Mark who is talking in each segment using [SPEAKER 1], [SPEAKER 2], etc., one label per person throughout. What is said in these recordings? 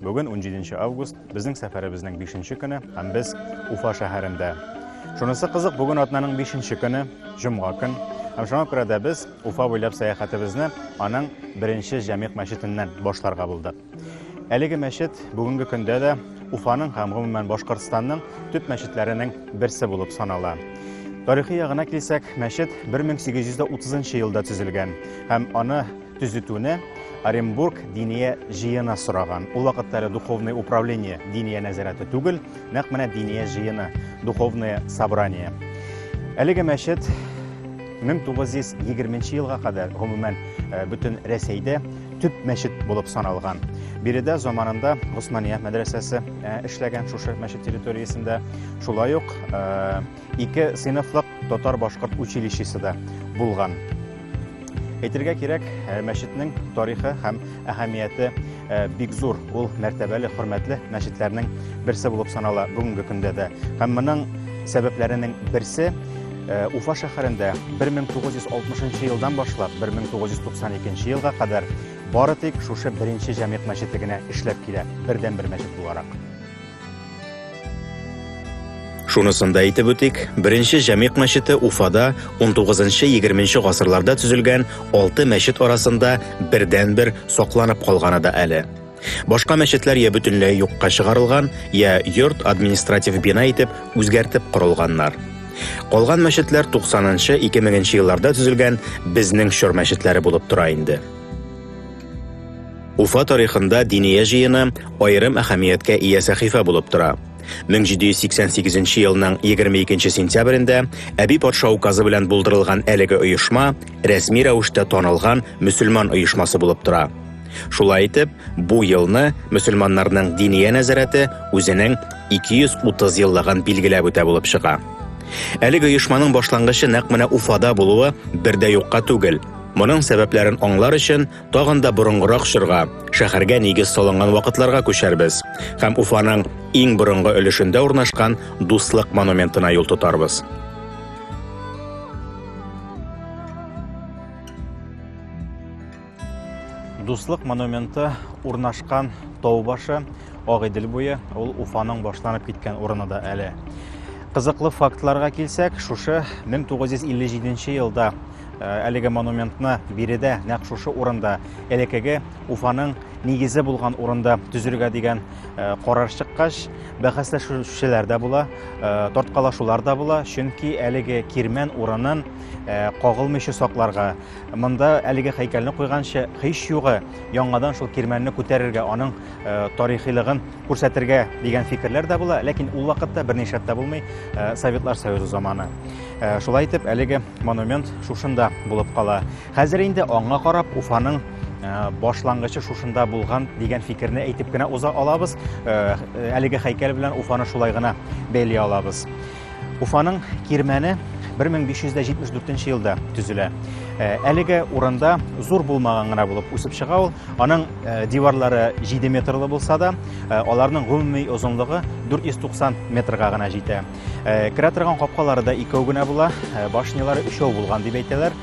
[SPEAKER 1] Бүген, унҗиденче август, безнең сәфәребезнең бишенче көне, һәм без Уфа шәһәрендә. Шунысы кызык, бүген атнаның бишенче көне, җомга көн, һәм шуңа күрә дә без Уфа буйлап сәяхәтебезне аның беренче Җәмигъ мәчетеннән башларга булдык. Әлеге мәчет бүгенге көндә дә Уфаның һәм гомумән Башкортстанның төп мәчетләренең берсе булып санала. Тарихи ягына килсәк, мәчет 1830 елда төзелгән һәм аны төзетүне Оренбург диния җыены сораган. Ул вакытта әле духовное управление диния нәзарәте түгел, нәкъ менә диния җыены, духовное собрание. Әлеге мәчет 1920 елга кадәр гомумән э, бөтен Рәсәйдә төп мәчет булып саналган. Биредә заманында Госмания мәдрәсәсе э, эшләгән шушы мәчет территориясендә. Шулай ук э, Ике сыйныфлык татар-башкорт училищесы да булган. Әйтергә кирәк, э, мәчетнең тарихы һәм әһәмияте э, бик зур. Ул мәртәбәле, хөрмәтле мәчетләрнең берсе булып санала бүгенге көндә дә. Һәм моның сәбәпләренең берсе э, Уфа шәһәрендә 1960 елдан башлап 1992 елга кадәр бары тик шушы беренче җәмигъ мәчете генә эшләп килә, бердәнбер мәчет буларак.
[SPEAKER 2] Шунысын да әйтеп үтик, беренче Җәмигъ мәчете Уфада 19-20 гасырларда төзелгән алты мәчет арасында бердән-бер сакланып калганы да әле. Башка мәчетләр я бөтенләй юкка чыгарылган, я йорт административ бина итеп үзгәртеп корылганнар. Калган мәчетләр 90-нчы, 2000-нче елларда төзелгән безнең чор мәчетләре булып тора инде. Уфа тарихында Диния җыены аерым әһәмияткә ия сәхифә булып тора. 1788 елның 22 сентябрендә Әби патша указы белән булдырылган әлеге оешма рәсми рәвештә танылган мөселман оешмасы булып тора. Шулай итеп, бу елны мөселманнарның Диния нәзарәте үзенең 230 еллыгын билгеләп үтә булып чыга. Әлеге оешманың башлангычы нәкъ менә Уфада булуы бер дә юкка түгел. Моның сәбәпләрен аңлар өчен Тагын да борынгырак чорга, шәһәргә нигез салынган вакытларга күчәрбез һәм Уфаның иң борынгы өлешендә урнашкан Дуслык монументына юл тотарбыз.
[SPEAKER 1] Дуслык монументы урнашкан тау башы Агыйдел буе, ул Уфаның башланып киткән урыны да әле. Кызыклы фактларга килсәк, шушы 1957 елда Әлеге монументны биредә, нәкъ шушы урында, элеккеге Уфаның нигезе булган урында төзергә дигән карар чыккач, бәхәсләшүчеләр дә була, тарткалашулар да була, чөнки әлеге кирмән урынын кагылмыйча сакларга, монда әлеге һәйкәлне куйганчы һич югы яңадан шул кирмәнне күтәрергә, аның тарихилыгын күрсәтергә дигән фикерләр дә була, ләкин ул вакытта берни шәп тә булмый, э, Советлар Союзы заманы. Э, шулай итеп, әлеге монумент шушында булып кала. Хәзер инде аңа карап Уфаның э, башлангычы шушында булган дигән фикерне әйтеп кенә уза алабыз. Әлеге хәйкәл белән Уфаны шулай гына бәйли алабыз. Уфаның Кирмәне 1574 елда төзелә. Э, әлеге урында зур булмаган гына булып үсеп чыга ул. Аның э, диварлары 7 метрлы булса да, э, аларның гомуми озынлыгы 490 метрга гына җитә. Керә торган капкалары да икәү генә була, башнялары өчәү булган дип әйтәләр.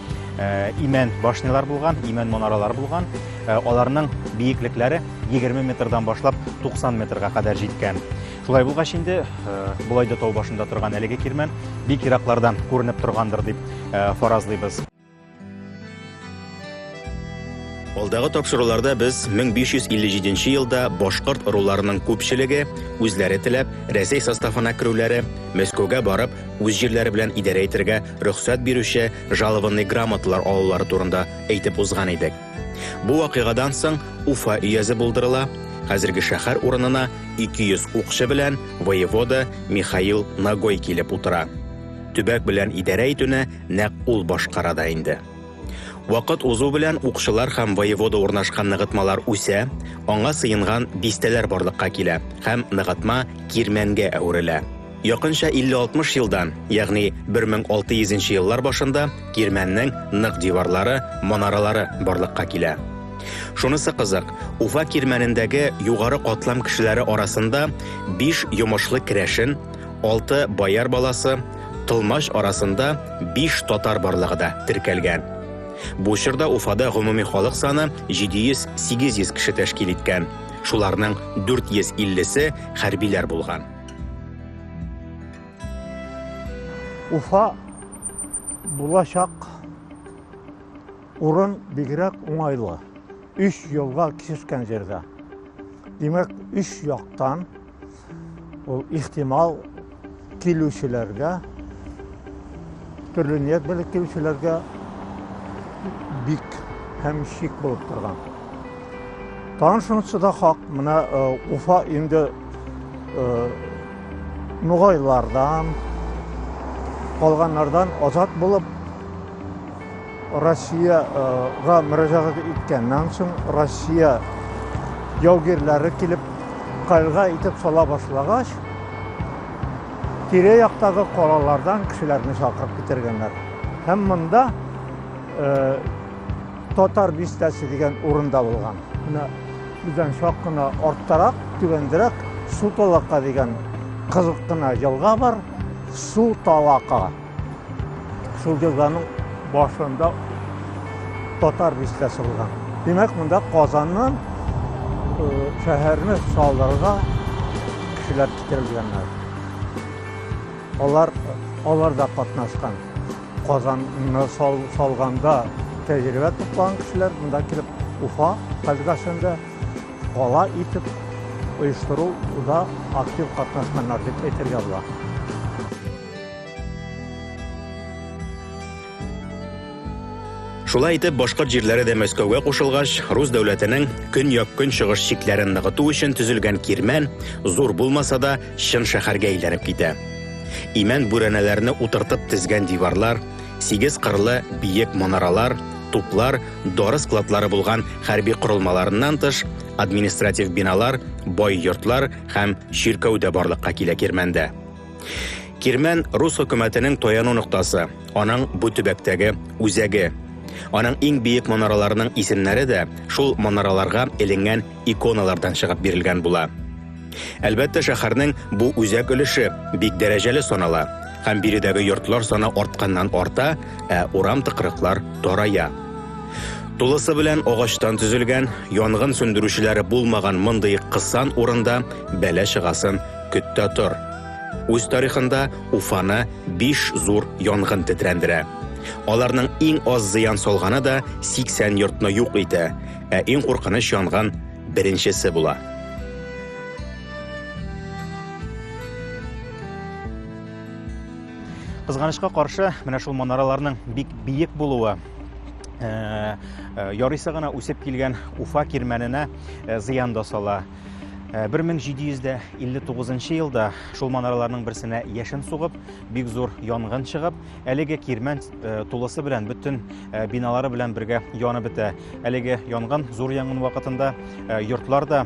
[SPEAKER 1] Имән башнялар булган, имән монаралар булган. Аларның биеклекләре 20 метрдан башлап 90 метрга кадәр җиткән. Шулай булгач инде, болай да тау башында торган әлеге кирмән бик ераклардан күренеп торгандыр дип фаразлыйбыз.
[SPEAKER 2] Алдагы тапшыруларда без 1557 елда башкорт ыруларының күпчелеге үзләре теләп Рәсәй составына керүләре, Мәскәүгә барып, үз җирләре белән идарә итәргә рөхсәт бирүче жалованный грамоталар алулары турында әйтеп узган идек. Бу вакыйгадан соң Уфа өязе булдырыла, хәзерге шәһәр урынына 200 укчы белән воевода Михаил Нагой килеп утыра. Төбәк белән идарә итүне нәкъ ул башкара да инде. Вакыт узу белән укчылар һәм воевода урнашкан ныгытмалар үсә, аңа сыенган бистәләр барлыкка килә һәм ныгытма кирмәнгә әверелә. Якынча 50-60 елдан, ягъни 1600 нче еллар башында кирмәннең нык диварлары, манаралары барлыкка килә. Шунысы кызык, Уфа кирмәнендәге югары катлам кешеләре арасында биш йомышлы керәшен, алты бояр баласы, Тылмач арасында биш татар барлыгы да теркәлгән. Бу чорда Уфада гомуми халык саны 700-800 кеше тәшкил иткән, шуларның 450 се хәрбиләр булган.
[SPEAKER 3] Уфа булачак урын бигрәк уңайлы. Үш елга кисешкән җирдә. Димәк, үш яктан ул ихтимал килүчеләргә, төрле ният белән килүчеләргә бик һәм шик булып торган. Тагын шунысы да хак, менә Уфа инде нугайлардан, калганнардан азат булып, Россияга мөрәҗәгать иткәннән соң, Россия яугирләре килеп, кальга итеп сала башлагач, тирә яктагы калалардан кешеләрне чакырып китергәннәр. Һәм монда Татар бистәсе дигән урында булган. Менә бездән чак кына арттарак, түбәндерәк Су талака дигән кызык кына елга бар. Су талака. Шул елганың башында татар бистәсе булган. Димәк, монда Казаннан шәһәрне салдырырга кешеләр китерелгәннәр. Алар алар да катнашкан. Казанны салганда тәҗрибә туплаган кешеләр монда килеп Уфа өлкәсендә кала итеп оештыруда актив катнашканнар дип әйтергә була.
[SPEAKER 2] Шулай итеп, башкорт җирләре дә Мәскәүгә кушылгач, рус дәүләтенең көньяк-көнчыгыш чикләрен ныгыту өчен төзелгән кирмән, зур булмаса да, Чын шәһәргә әйләнеп китә. Имән бүрәнәләрне утыртып тезгән диварлар, сигез кырлы биек манаралар, туплар, дары складлары булган хәрби корылмаларыннан тыш, административ биналар, бай йортлар һәм чиркәү дә барлыкка килә Кирмәндә. Кирмән рус хөкүмәтенең таяну ноктасы, аның бу төбәктәге үзәге. Аның иң биек манараларының исемнәре дә шул манараларга эленгән иконалардан чыгып бирелгән була. Әлбәттә, шәһәрнең бу үзәк өлеше бик дәрәҗәле санала, һәм биредәге йортлар саны артканнан арта, ә урам тыкрыклар тарая. Тулысы белән агачтан төзелгән, янгын сүндерүчеләре булмаган мондый кысан урында бәла чыгасын көт тә тор. Үз тарихында Уфаны биш зур янгын тетрәндерә. Аларның иң аз зыян салганы да 80 йортны юк итә, ә иң куркыныч янгын Беренчесе була.
[SPEAKER 1] Кызганычка каршы, менә шул манараларның бик биек булуы Э, э, ярыйсы гына үсеп килгән уфа кирмәненә э, зыян да сала 1759 елда шул манараларның берсенә яшен сугып бик зур янгын чыгып әлеге кирмән Э, тулысы белән бөтен э, биналары белән бергә янып бетә. Әлеге янгын зур янгын вакытында э, йортлар да,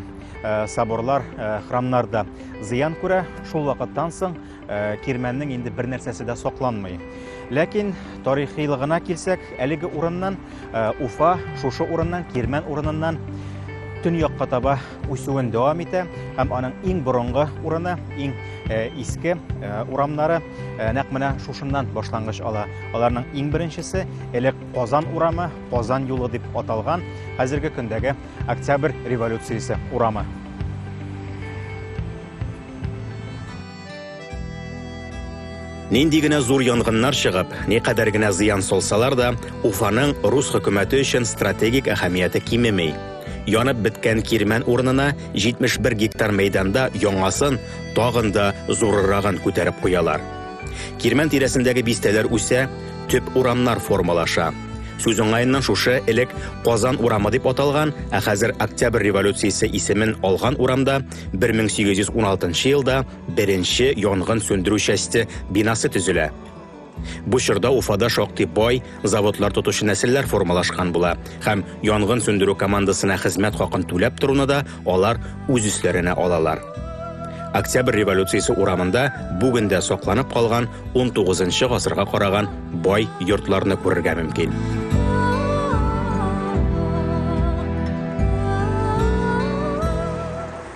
[SPEAKER 1] соборлар, храмнар да зыян күрә. Шул вакыттан соң кирмәннең инде бер нәрсәсе дә сакланмый. Ләкин тарихилыгына килсәк, әлеге урыннан Э, Уфа шушы урыннан, Кирмән урыныннан төньякка таба үсүен дәвам итә һәм аның иң борынгы урыны, иң э, иске э, урамнары нәкъ менә шушыннан башлангыч ала. Аларның иң беренчесе элек Казан урамы, Казан юлы дип аталган, хәзерге көндәге Октябрь революциясе урамы.
[SPEAKER 2] Нинди генә зур янгыннар чыгып, никадәр генә зыян салсалар да, Уфаның рус хөкүмәте өчен стратегик әһәмияте кимеми. Янып беткән кирмән урынына 71 гектар мәйданда яңасын, тагын да зурырагын күтәреп куялар. Кирмән тирәсендәге бистәләр үсә, төп урамнар формалаша. Сүз уңаеннан шушы элек Казан урамы дип аталган, ә хәзер Октябрь революциясе исемен алган урамда 1816 елда беренче янгын сүндерү часте бинасы төзелә. Бу чорда Уфада шактый бай заводлар тотучы нәселләр формалашкан була һәм янгын сүндерү командасына хезмәт хакын түләп торуны да алар үз өсләренә алалар. Октябрь революциясе урамында бүген дә сакланып калган 19 нчы гасырга караган бай йортларны күрергә мөмкин.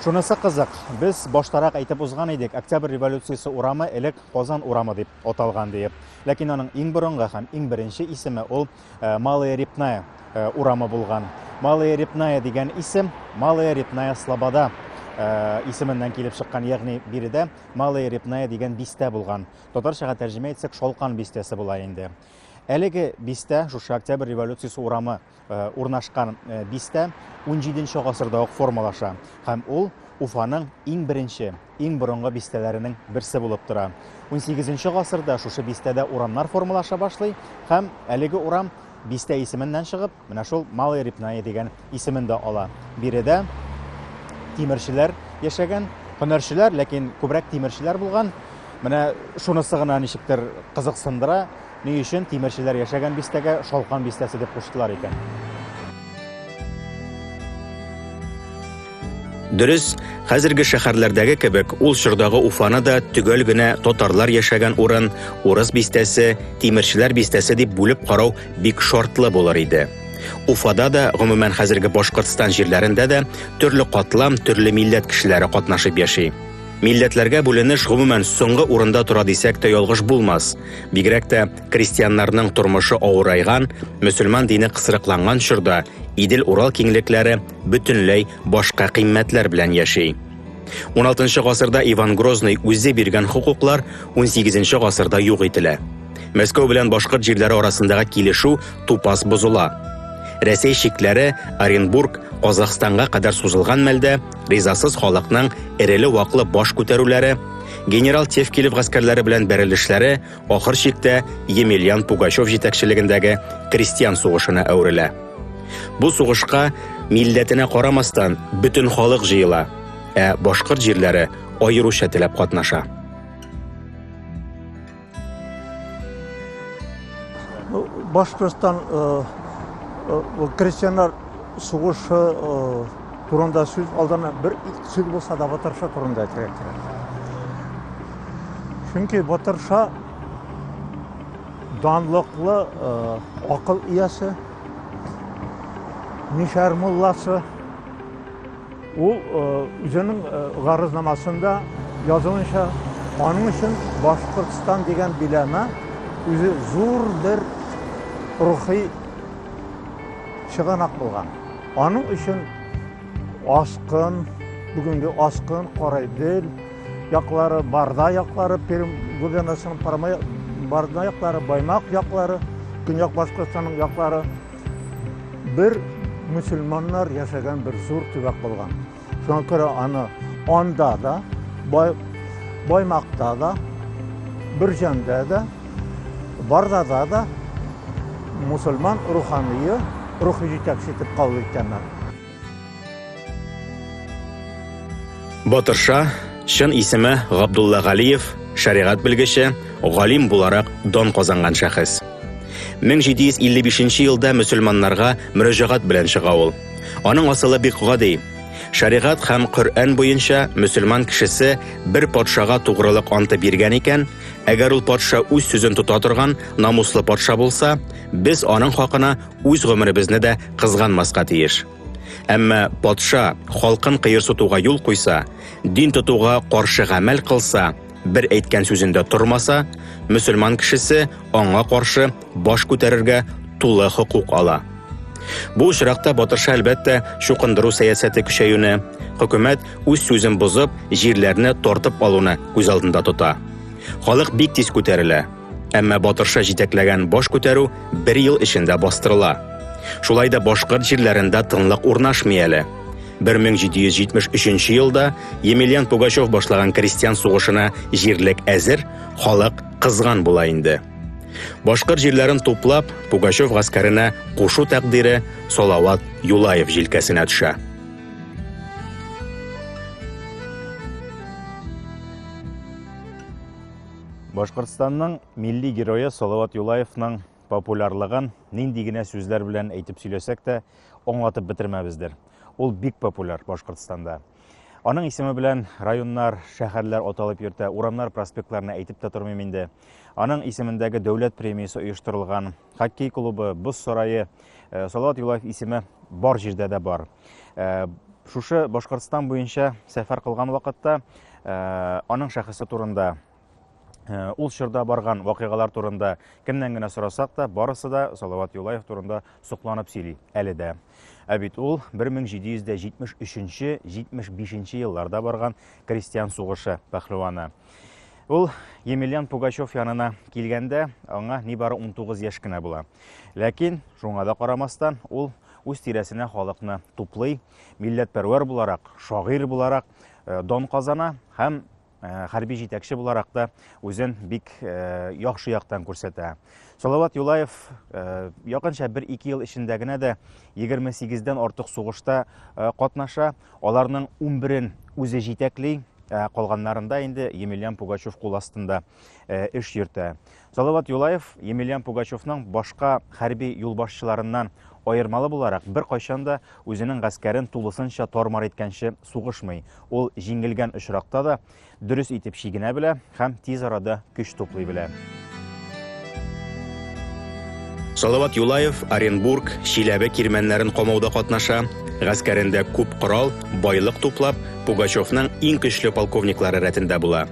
[SPEAKER 1] Шунысы кызык, без баштарак әйтеп узган идек, Октябрь революциясе урамы элек Казан урамы дип аталган диеп. Ләкин аның иң борынгы һәм иң беренче исеме ул э, Малая Репная э, урамы булган. Малая Репная дигән исем Малая Репная Слобода Э, исеменнән килеп чыккан, ягъни биредә Малая Репная дигән бистә булган. Татарчага тәрҗемә итсәк, Шалкан бистәсе була инде. Әлеге бистә, шушы Октябрь революциясе урамы э, урнашкан э, бистә 17 гасырда ук формалаша һәм ул Уфаның иң беренче, иң борынгы бистәләренең берсе булып тора. 18 гасырда шушы бистәдә урамнар формалаша башлый һәм әлеге урам бистә исеменнән чыгып, Менә шул Малая Репная дигән исемен дә ала. Биредә тимерчеләр яшәгән, һөнәрчеләр, ләкин күбрәк тимерчеләр булган. Менә шунысы гына ничектер кызыксындыра, ни өчен тимерчеләр яшәгән бистәгә Шалкан бистәсе дип куштылар икән.
[SPEAKER 2] Дөрес, хәзерге шәһәрләрдәге кебек ул чордагы Уфаны да төгәл генә татарлар яшәгән урын, урыс бистәсе, тимерчеләр бистәсе дип бүлеп карау бик шартлы булыр иде. Уфада да, гомумән хәзерге Башкортстан җирләрендә дә төрле катлам, төрле милләт кешеләре катнашып яши. Милләтләргә бүленеш гомумән соңгы урында тора дисәк тә ялгыш булмас. Бигрәк тә крестьяннарның тормышы авырайган, мөселман дине кысрыкланган чорда Идел-Урал киңлекләре бөтенләй башка кыйммәтләр белән яши. 16 гасырда Иван Грозный үзе биргән хокуклар 18 гасырда юк ителә. Мәскәү белән башкорт җирләре арасындагы килешү тупас бозыла. Рәсәй чикләре Оренбург, Казахстанга кадәр сузылган мәлдә ризасыз халыкның эреле-ваклы баш күтәрүләре, генерал Тевкилев гаскәрләре белән бәрелешләре ахыр чиктә Емельян Пугачев җитәкчелегендәге крестьян сугышына әверелә. Бу сугышка милләтенә карамастан бөтен халык җыела, ә башкорт җирләре аеруча теләп катнаша.
[SPEAKER 3] Башкортстан э, э, крестьяннар сугышы э, турында сүз алдына бер сүз булса да Батырша турында әйтергә кирәк. Чөнки Батырша данлыклы э, акыл иясе, мишәр мулласы. Ул э, үзенең э, гарызнамасында язуынча, аның өчен Башкортстан дигән биләмә үзе зур бер рухи чыганак булган. Аның өчен аскын, бүгенге аскын, карайдел, яклары, барда яклары, Пермь губернасының Парма барда яклары, Баймак яклары, Көньяк Башкортстанның яклары бер мөселманнар яшәгән бер зур төбәк булган. Шуңа күрә аны анда да, бай, Баймакта да, Бөрҗәндә дә, Бардада да мусульман рухание, рухи җитәкче итеп кабул иткәннәр.
[SPEAKER 2] Батырша, чын исеме Габдулла Галиев, шәригать белгече, галим буларак дан казанган шәхес. 1755 елда мөселманнарга мөрәҗәгать белән чыга ул. Аның асылы бик гади. Шәригать һәм Коръән буенча мөселман кешесе бер патшага тугрылык анты биргән икән, әгәр ул патша үз сүзен тота торган намуслы патша булса, без аның хакына үз гомеребезне дә кызганмаска тиеш. Әмма патша халкын кыерсытуга юл куйса, дин тотуга каршы гамәл кылса, Бер әйткән сүзендә тормаса, мөселман кешесе аңа каршы баш күтәрергә тулы хокук ала. Бу очракта Батырша әлбәттә чукындыру сәясәте көчәюне, хөкүмәт үз сүзен бозып, җирләрне тартып алуны күз алдында тота. Халык бик тиз күтәрелә. Әмма Батырша җитәкләгән баш күтәрү бер ел эчендә бастырыла. Шулай да башкорт җирләрендә тынлык урнашмый әле. 1773 елда Емельян Пугачев башлаган крестьян сугышына җирлек әзер, халык кызган була инде. Башкорт җирләрен туплап, Пугачев гаскәренә кушу тәкъдире Салават Юлаев җилкәсенә төшә.
[SPEAKER 1] Башкортстанның милли герое Салават Юлаевның популярлыгын нинди генә сүзләр белән әйтеп сөйләсәк тә, аңлатып бетермәбездер. Ул бик популяр Башкортстанда. Аның исеме белән районнар, шәһәрләр аталып йөртә, урамнар, проспектларны әйтеп тә тормыйм инде. Аның исемендәге дәүләт премиясе оештырылган. хоккей клубы, боз сарае, э, Салават Юлаев исеме бар җирдә дә бар. Э, шушы Башкортстан буенча сәфәр кылган вакытта э, аның шәхесе турында Э, ул чорда барган вакыйгалар турында кемнән генә сорасак та, барысы да Салават Юлаев турында сокланып сөйли әле дә. Ә бит ул 1773-75 елларда барган крестьян сугышы пәһлеваны. Ул Емельян Пугачев янына килгәндә, аңа нибары 19 яшь кенә була. Ләкин, шуңа да карамастан, ул үз тирәсенә халыкны туплый, милләтпәрвәр буларак, шагыйрь буларак э, дон казана һәм э, хәрби җитәкче буларак та үзен бик э, яхшы яктан күрсәтә. Салават Юлаев якынча 1-2 ел эчендә генә дә 28 дән артык сугышта катнаша, Аларның унберен үзе җитәкли, ә калганнарында инде Емельян Пугачев кул астында э, эш йөртә. Салават Юлаев Емельян Пугачевның башка хәрби юлбашчыларыннан аермалы буларак беркайчан да үзенең гаскәрен тулысынча тормар иткәнче сугышмый. Ул җиңелгән очракта да Дөрес итеп чигенә белә һәм тиз арада көч туплый белә.
[SPEAKER 2] Салават Юлаев Оренбург, Чиләбе кирмәннәрен камауда катнаша, гаскәрендә күп корал, байлык туплап, Пугачевның иң көчле полковниклары рәтендә була.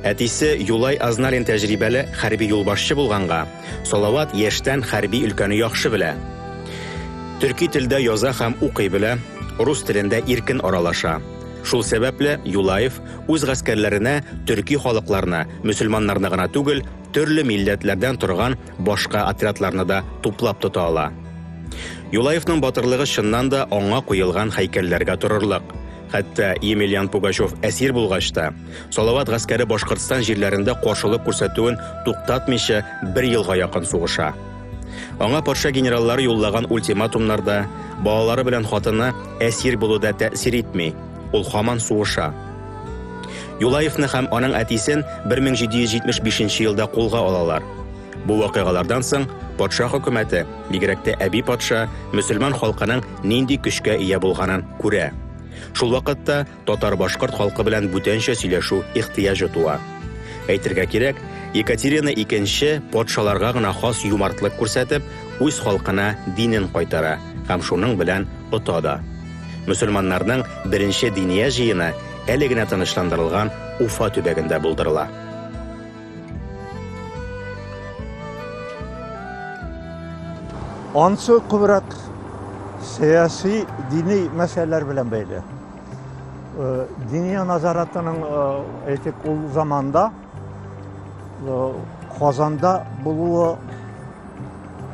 [SPEAKER 2] Әтисе Юлай Азналин тәҗрибәле хәрби юлбашчы булганга, Салават яшьтән хәрби өлкәне яхшы белә. Төрки телдә яза һәм укый белә, рус телендә иркен аралаша. Шул сәбәпле Юлаев үз гаскәрләренә төрки халыкларны, мөселманнарны гына түгел, төрле милләтләрдән торган башка отрядларны да туплап тота ала. Юлаевның батырлыгы чыннан да аңа куелган хәйкәлләргә торырлык. Хәтта Емельян Пугачев әсир булгач та, Салават гаскәре Башкортстан җирләрендә каршылык күрсәтүен туктатмыйча бер елга якын сугыша. Аңа патша генераллары юллаган ультиматумнар да, балалары белән хатыны әсир булу да тәэсир итми. Ул хаман суыша. Юлаевны һәм аның әтисен 1775 елда кулга алалар. Бу вакыйгалардан соң патша хөкүмәте, бигрәк тә әби патша, мөселман халкының нинди көчкә ия булганын күрә. Шул вакытта Татар-башкорт халкы белән бүтәнчә сөйләшү ихтыяҗы туа. Әйтергә кирәк, Екатерина II патшаларга гына хас юмартлык күрсәтеп, үз халкына динен кайтара һәм шуның белән ота да. Мөселманнарның беренче диния җыены әле генә тынычландырылган Уфа төбәгендә булдырыла.
[SPEAKER 3] Ансы күбрәк сәяси, дини мәсьәләләр белән бәйле. Э, Диния назаратының э, әйтик ул заманда э, Казанда булуы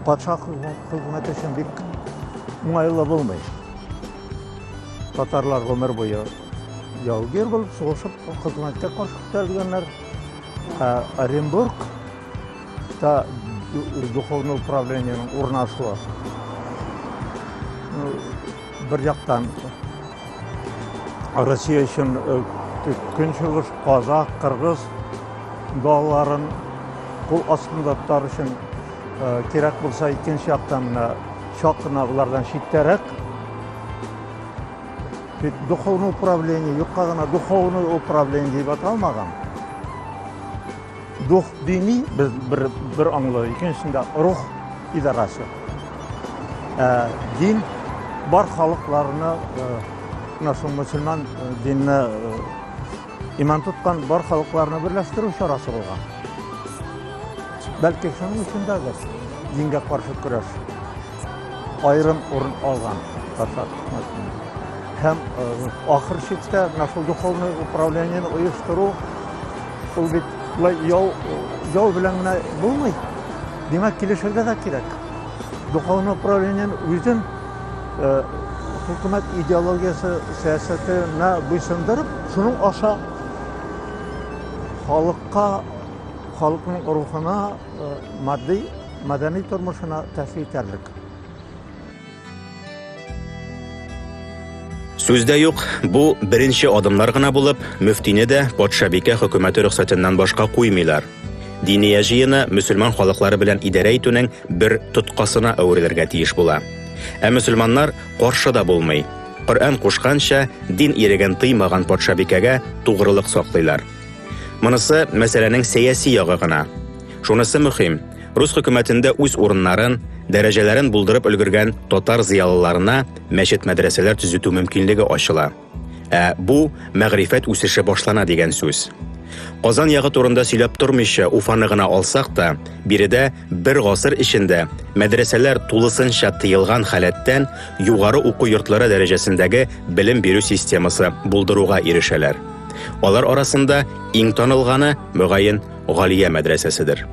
[SPEAKER 3] патша хезмәте өчен бик уңайлы булмый. Татарлар гомер буе Яугир булып сугышып хезмәткә каршы күтәрелгәннәр. Ә Оренбург та духовный управлениенең урнашуы. Ну, бер яктан Россия өчен э, көнчыгыш казах, кыргыз балаларын кул астында тотар өчен э, кирәк булса икенче яктан менә чак кына улардан читтәрәк Тик духовный управление, юкка гына духовный управление дип аталмаган. Дух дини без бер бер аңлы, икенчесендә рух идарәсе. Ә дин бар халыкларны менә шул мусульман динне иман тоткан бар халыкларны берләштерү чарасы булган. Бәлки шуның өчен дә дингә каршы көрәш. Айрым урын алган Татар Тукмасында. Һәм ахыр чиктә менә шул духовный управлениене оештыру ул бит шулай яу яу белән генә булмый. Димәк, килешергә дә кирәк. Духовный управлениене үзен хөкүмәт идеологиясе сәясәтенә буйсындырып, шуның аша халыкка, халыкның рухына матди мәдәни тормышына тәэсир итәрлек.
[SPEAKER 2] Сүз дә юк, бу беренче адымнар гына булып, мөфтине дә патшабикә хөкүмәте рөхсәтеннән башка куймыйлар. Диния җыены мөселман халыклары белән идарә итүнең бер тоткасына әверелергә тиеш була. Ә мөселманнар каршы да булмый. Коръән кушканча, дин иреген тыймаган патшабикәгә тугрылык саклыйлар. Монысы мәсьәләнең сәяси ягы гына. Шунысы мөһим, рус хөкүмәтендә үз урыннарын, дәрәҗәләрен булдырып өлгергән татар зыялыларына мәчет-мәдрәсәләр төзетү мөмкинлеге ачыла. Ә бу мәгърифәт үсеше башлана дигән сүз. Казан ягы турында сөйләп тормыйча Уфаны гына алсак та, биредә бер гасыр эчендә мәдрәсәләр тулысынча тыелган халәттән югары уку йортлары дәрәҗәсендәге белем бирү системасы булдыруга ирешәләр. Алар арасында иң танылганы, мөгаен, Галия мәдрәсәседер.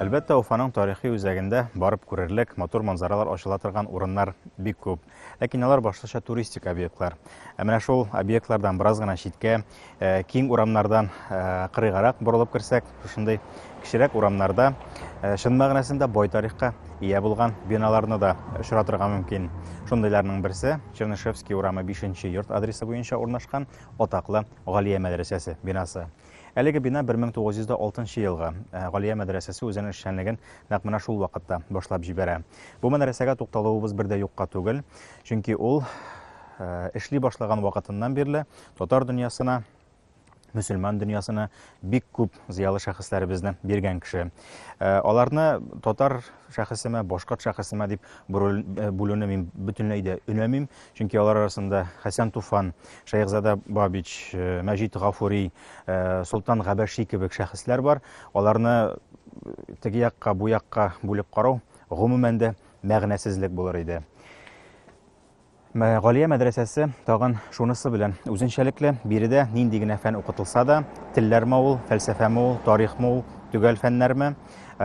[SPEAKER 1] Әлбәттә, Уфаның тарихи үзәгендә барып күрерлек, матур манзаралар ачыла торган урыннар бик күп. Ләкин алар башлыча туристик объектлар. Ә менә шул объектлардан бераз гына читкә, э, киң урамнардан э, кырыйгарак борылып керсәк, шушындый кечерәк урамнарда э, чын мәгънәсендә бай тарихка ия булган биналарны да очратырга мөмкин. Шундыйларның берсе Чернышевский урамы 5 йорт адресы буенча урнашкан атаклы Галия мәдрәсәсе бинасы. Әлеге бина 1906 елгы. Ә Галия мәдрәсәсе үзенең эшчәнлеген нәкъ менә шул вакытта башлап җибәрә. Бу мәдрәсәгә тукталуыбыз бер дә юкка түгел, чөнки ул э, эшли башлаган вакытыннан бирле татар дөньясына мөселман дөньясына бик күп зыялы шәхесләребезне биргән кеше. Э, аларны татар шәхесеме, башкорт шәхесеме дип э, бүлүне мин бөтенләй дә өнәмим, Чөнки алар арасында Хәсән Туфан, Шәехзада Бабич, э, Мәҗит Гафури, э, Солтан Габәши кебек шәхесләр бар. Аларны э, теге якка, бу якка бүлеп карау гомумән дә мәгънәсезлек булыр иде. Галия мәдрәсәсе тагын шунысы белән үзенчәлекле, биредә нинди генә фән укытылса да, телләрме ул, фәлсәфәме ул, тарихмы ул, төгәл фәннәрме,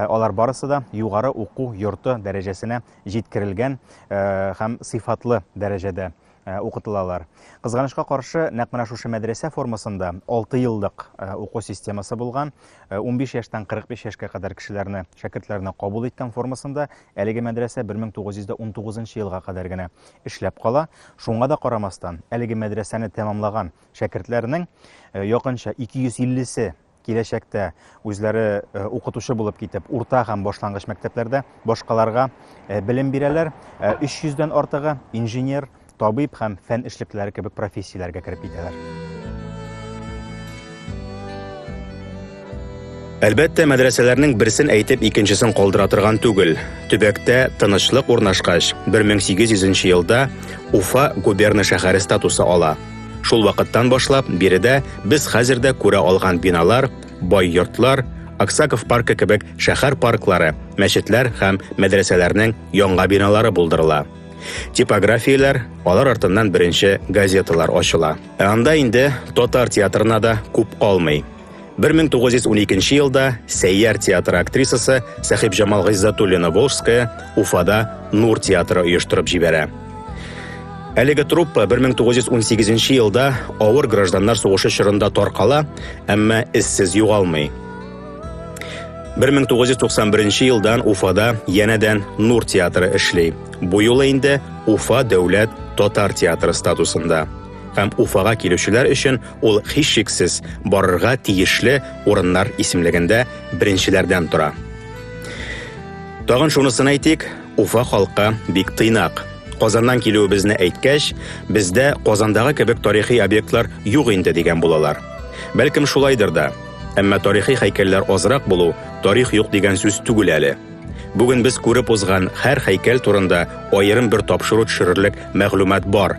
[SPEAKER 1] алар барысы да югары уку йорты дәрәҗәсенә җиткерелгән һәм сыйфатлы дәрәҗәдә укытылалар. Кызганычка каршы, нәкъ менә шушы мәдрәсә формасында 6 еллык уку системасы булган, 15 яшьтән 45 яшькә кадәр кешеләрне, шәкертләрне кабул иткән формасында әлеге мәдрәсә 1919 елга кадәр генә эшләп кала. Шуңа да карамастан, әлеге мәдрәсәне тәмамлаган шәкертләрнең якынча 250-се киләчәктә үзләре э, укытучы булып китеп, урта һәм башлангыч мәктәпләрдә башкаларга э, белем бирәләр. 300 э, дән артыгы инженер, табиб һәм фән эшлеклеләре кебек профессияләргә кереп китәләр.
[SPEAKER 2] Әлбәттә, мәдрәсәләрнең берсен әйтеп, икенчесен калдыра торган түгел. Төбәктә тынычлык урнашкач, 1800 елда Уфа губерна шәһәре статусы ала. Шул вакыттан башлап, биредә без хәзер дә күрә алган биналар, бай йортлар, Аксаков паркы кебек шәһәр парклары, мәчетләр һәм мәдрәсәләрнең яңа биналары булдырыла. Типографияләр, алар артыннан беренче газеталар ачыла. Ә анда инде татар театрына да күп калмый. 1912 нче елда Сәйяр театры актрисасы Сәхибҗамал Гыйззатуллина Волжская Уфада Нур театры оештырып җибәрә. Әлеге труппа 1918 елда авыр гражданнар сугышы чорында таркала, әмма эзсез югалмый. 1991 елдан Уфада янәдән Нур театры эшли. Бу юлы инде Уфа дәүләт татар театры статусында. Һәм Уфага килүчеләр өчен ул һичшиксез барырга тиешле урыннар исемлегендә беренчеләрдән тора. Тагын шунысын әйтик, Уфа халкы бик тыйнак. Казаннан килүебезне әйткәч, бездә Казандагы кебек тарихи объектлар юк инде дигән булалар. Бәлкем шулайдыр да. Әмма тарихи һәйкәлләр азрак булу тарих юк дигән сүз түгел әле. Бүген без күреп узган һәр һәйкәл турында аерым бер тапшыру төшерерлек мәгълүмат бар.